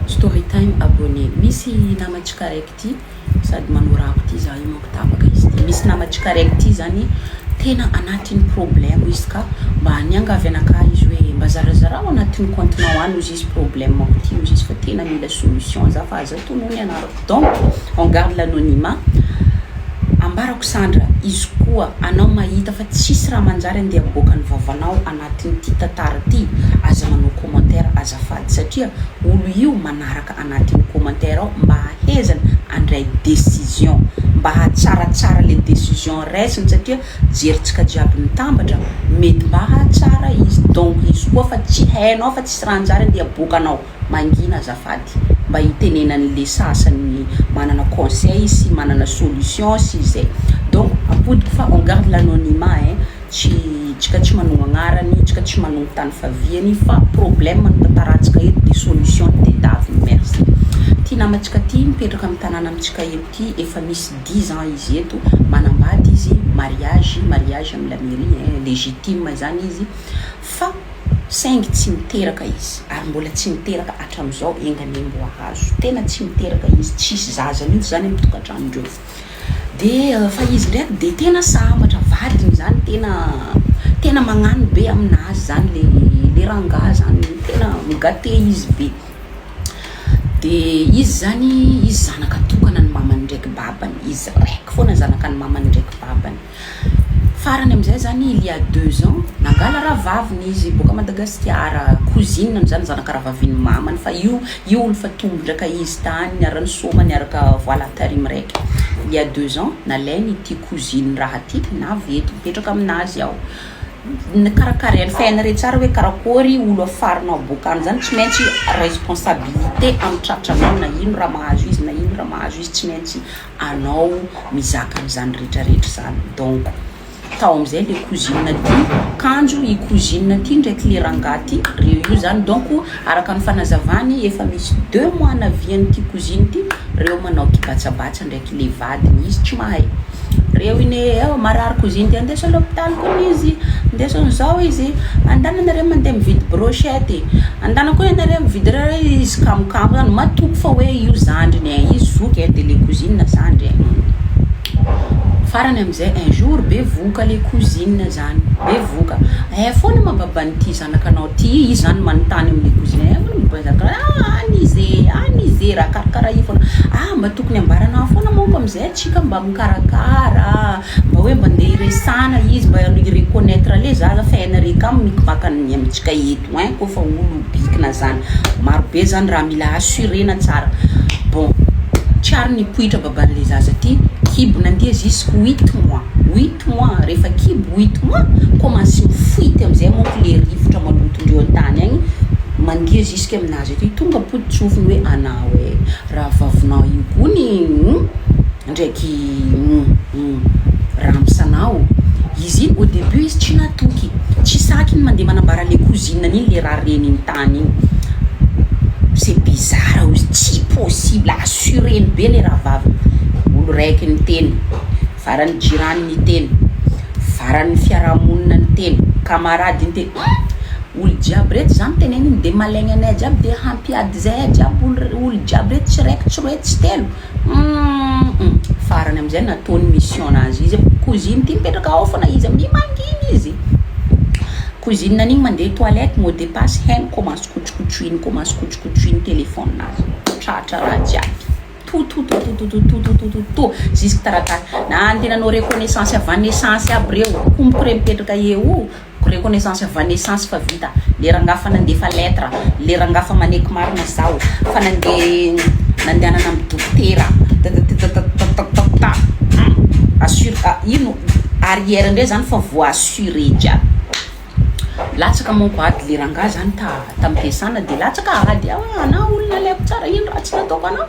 Story time abonné misy nama tsikaraiky ty sady manao rap ty za io manko tapaka izy ty misy nama tsikaraiky ty zany tena anatiny problème izy ka mba niangavy anakahy izy hoe mba zarazarao anatiny compte nao any ozy izy problème ko ty ozy izy fa tena mila solution za fa aza tonony ny anarako donc on garde l'anonymat ambarako sandra izy koa anao mahita fa tsisy raha manjary andeha aboaka ny vavanao anatin'ity tantara ity aza manao commentaire azafady satria olo io manaraka anatin'ny commentaire ao mba ahezany andray décision mba hatsaratsara le décision raisiny satria jerintsika jiaby mitambatra mety mba hahatsara izy donc izy koa fa tsy hainao fa tsisy raha anjary andeha aboakanao Mangina azafady mba hitenenany le sasany manana conseil sy manana solution sy zay. Donc ampodiko fa on garde l'anonymat hein, tsy tsika tsy manao agnarany, tsika tsy manao tany faviany fa problème no tantarahantsika eto de solution no tedaviny. Merci. Ty namantsika ty mipetraka am tanàna amitsika eto ty efa misy dix ans izy eto, manambady izy, mariage, mariage am la mairie hein, legitime zany izy. Fa saingy tsy miteraka izy ary mbola tsy miteraka hatramizao enga anie mboa hazo tena tsy miteraka izy tsisy zaza mihitsy zany am tokantranondreo de fa izy ndraiky de tena sambatra vadiny zany tena tena magnano be aminazy zany le le rangaha zany tena migate izy be de izy zany izy zanaka tokana ny mamany ndraiky babany izy raiky fona zanaka ny mamany ndraiky babany. Farany amizay zany il ya deux ans nangala rahavaviny izy boaka Madagasikara, cousine ny zany zanaka rahavaviny mamany fa io io olo fa tombondraka izy tany niara nisoma niaraka voila tary miraiky il ya deux ans nalainy ity cousine raha ty navy eto mipetraka aminazy ao nikarakarainy fa hainareo tsara hoe karakory olo afarinao boaka any zany tsy maintsy responsabilite am tratranao na ino raha mahazo izy na ino raha mahazo izy tsy maintsy anao mizaka an'izany rehetra rehetra izany donc tao amizay le cousine ty kanjo i cousine ty ndraiky le rangahy ty reo io zany donc araka ny fanazavany efa misy deux mois navian'ity cousine ty reo manao ty batsabatsa ndraiky le vadiny izy tsy mahay reo ine eo marary cousine ty andeso à l'hopitaly kony izy ndesony zao izy andananareo mandeha mividy brochette e Andanako hoe ianareo mividy raha hoe izy kamokamo zany, matoky fa hoe io zandriny eh, izy zoky eh, de le cousine zandry eh, humm. Farany amzay un jour be vohoka le cousine zany, be vohoka, eh foana ma baban'ity zanakanao ty, izy zany manontany amle cousine, eh foana ma baban'ity zanakanao ty, ah any izy e, any izy e, raha karakara io foana, ah mba tokony ambaranao foana manko amzay atsika mba mikarakara ah. Mba hoe mba ndeha hiresahana izy mba hi reconnaitre ale zaza fa en regard mik vakany ny amintsika eto hein ko fa olo bikina zany maro be zany raha mila assurena tsara bon tsy ary nipoitra babanle zaza ty kibo nandeha jusque huit mois huit mois refa kibo huit mois commence mifoity amzay manko le rivotra maloto ndreo antany agny mandeha jusque aminazy aty tonga pototsofiny hoe anao eh raha vavinao io kony humm. ndraiky ramosana ao izy iny au debut izy tsy natoky tsy saky iny mandeha manambara le cousine an'iny le raha reniny tany iny c'est bizarre ozy tsy possible assureny be le rahavaviny olo raiky niteny farany jirany niteny farany fiarahamonina niteny camarade niteny olo jiaby reto zany teneniny de malaigny anay jiaby de hampiady zay jiaby olo jiaby reto tsy raiky tsy roe tsy telo Humm farany amizay nataony mission nazy izy a, cousine ty mipetraka ao fona izy amin'iny mangina izy, cousine an'iny mandeha toilette mot de passe heno ko maso kotsokotroiny ko maso kotsokotroiny telephone nazy, tratra raha jiaby totototototototototototototo jusque taratasy na andeha nanao reconnaissance avy any essence aby reo, ko mipre mipetraka eo o. Reconnaissance avy any essence fa vita le rangahy fa nandefa lettre le rangahy fa maneky marina zaho fa nandeha nandehanana am dokotera tatatatatatatatata hum assure a ino arrière ndray zany fa voa assuré jiaby latsaka manko ady le rangahy zany ta tam piasana de latsaka ady ah ana olona aleko tsara ino ratsy nataoko anao.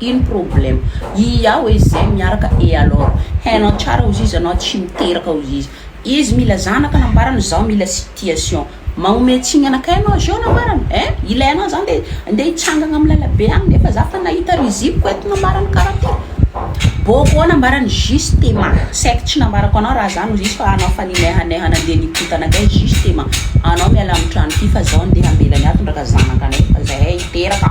Ino problème? Ia oe zay miaraka et alors? Hainao tsara ozy izy anao tsy miteraka ozy izy. Izy mila zanaka nambarany zaho mila situation. Magnome tsiny anakay anao zao nambarany eh? Ilay anao zany de ndeha hitsangagna am lalabe agny nefa za fa nahita rizipiko eto nambarany karaha ty. Bôkô nambarany justement saiky tsy nambarako anao raha zany ozy izy fa anao fa ninehaneha nandeha nipota anakay justement. Anao miala am trano ty fa zaho ndeha hamela ny ahy tondraka zanaka anay fa zahay hiteraka.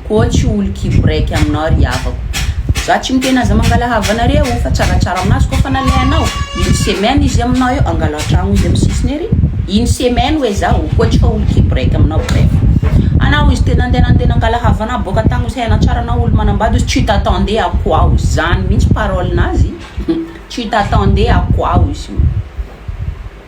Koa tsy olo kiborek aminao ry havako. Za tsy miteny aza mangalahava anareo fa tsaratsara aminazy koa fa nalehanao une semaine izy aminao eo angalo antragno izy am sisiny ery une semaine oe zaho koa tsy olo kiborek aminao bref anao izy te nande nande nangalahava anah boka tagny ozy hainao tsara anao olo manambady ozy tu t'attendais à quoi ozy zany mintsy parole nazy tu t'attendais à quoi ozy.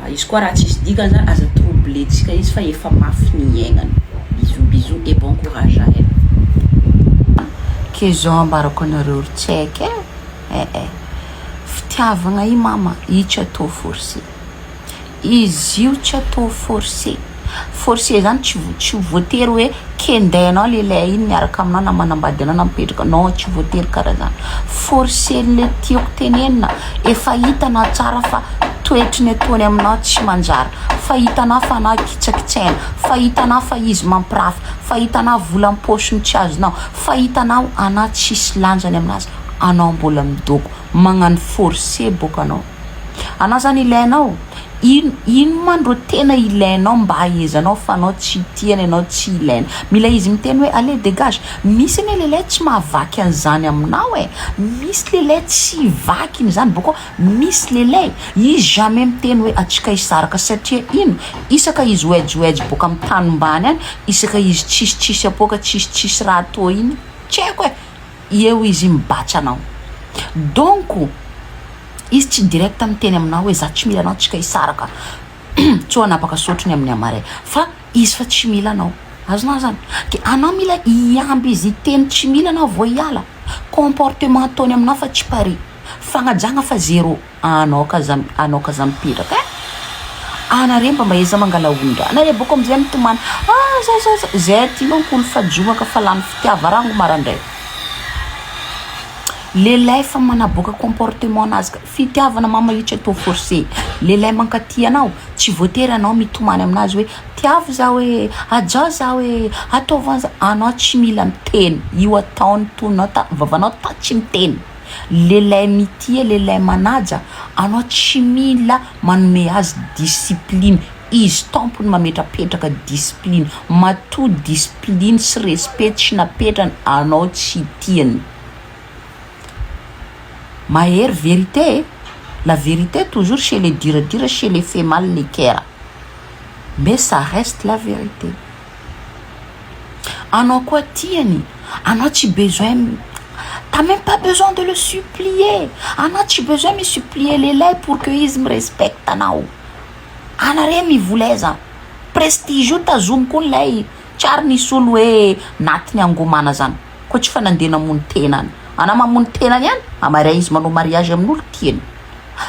Fa izy koa raha tsisy dikany aza troublentsika izy fa efa mafy ny iaignany. Bisous bisous et bon courage à elle. Ke zao ambarako anareo ry tsek eh eh eh fitiavagna i mama i tsy atao forcer izy io tsy atao forcer. Force zany tsy tsy voatery hoe kendainao lehilahy iny miaraka aminao na manambady anao na mipetraka non tsy voatery karaha zany force le tiako tenenina efa hitanao tsara fa toetry ny ataony aminao tsy manjary fa hitanao fa anao kitsakitsaina fa hitanao fa izy mampirafy fa hitanao vola am-paosiny tsy azonao fa hitanao anao tsisy lanjany aminazy anao mbola midoko magnano force boka anao Anao zany ilainao? Ino ino man ro tena ilainao mba hahaizanao fa anao tsy tia ny anao tsy ilaina? Mila izy miteny hoe allez dégage! Misy anie lehilahy tsy mahavaky an'izany aminao e! Misy lehilahy tsy vakiny izany boko misy lehilahy izy jamais miteny hoe atsika hisaraka satria ino? Isaka izy oejioejy boka amin'ny tany mbany any isaka izy tsisy tsisy apoaka tsisy tsisy raha atao iny tsy haiko e! eo izy mibatch anao donc izy tsy direct miteny aminao hoe za tsy mila anao tsika hisaraka tsy ho anapaka sotro ny amin'ny hamare fa izy fa tsy mila anao azonao zany de anao mila hiamby izy hiteny tsy mila anao vao hiala comportement ataony aminao fa tsy pari fagnajagna fa zero Anao ka za anao ka za mipetraka eh! Anareo mba maeza mangala ondra anareo boko amzay mitomany ah zao zao zao zay aty manko olo fa jomaka fa lany fitiava rango marandray lehilahy efa manaboaka comportement nazy ka fitiavana mama io tsy atao force lehilahy mankatia anao tsy voatery anao mitomany aminazy hoe tiavo zaho eh ajao zaho eh ataovy anza anao tsy mila miteny io ataony tonao ta vavanao ta tsy miteny Lehilahy mitia, lehilahy manaja, anao tsy mila manome azy discipline, izy tompony mametrapetraka discipline, matoa discipline sy respect tsy napetrany anao tsy tiany. Mahery vérité e, la vérité toujours chez les durs à dire, chez les fait mal les coeur, mais ça reste la vérité. Anao koa tiany, anao tsy besoin t'as meme pas besoin de le supplier, anao tsy besoin mi supplier lehilahy pour que izy mi respecte anao, ana re mivola aiza, prestige io tazomy koa lay tsy ary nisy olo hoe natiny angomana zany, koa tsy fa nandeha namono tenany, ana mamono tenany ihany, ama re izy manao mariage amin'olo tiany,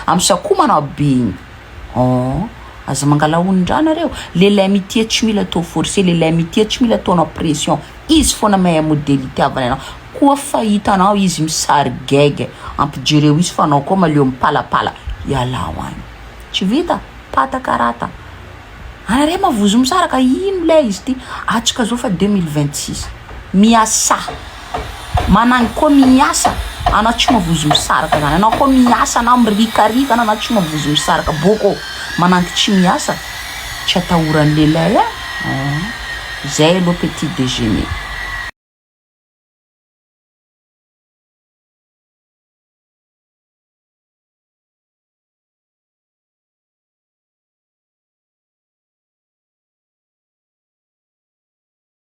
am sa koa manao be igny. Ooh aza mangala ony ndraha nareo, lehilahy mitia tsy mila atao forcer, lehilahy mitia tsy mila ataonao pression, izy fona mahay modely itiavany anao, koa fa hitanao izy misarigege ampijereo izy fa anao koa maleo mipalapala, ialao any tsy vita pataka rata, anareo mavozo misaraka ino lay izy ty, atsika zao fa deux mille vingt six, miasà. Managny koa miasa ana tsy mavozo misaraka zany anao koa miasa na mirikarika ana tsy mavozo misaraka boko manangy tsy miasa tsy atahorany lehilahy a zay aloha petit dejeuner.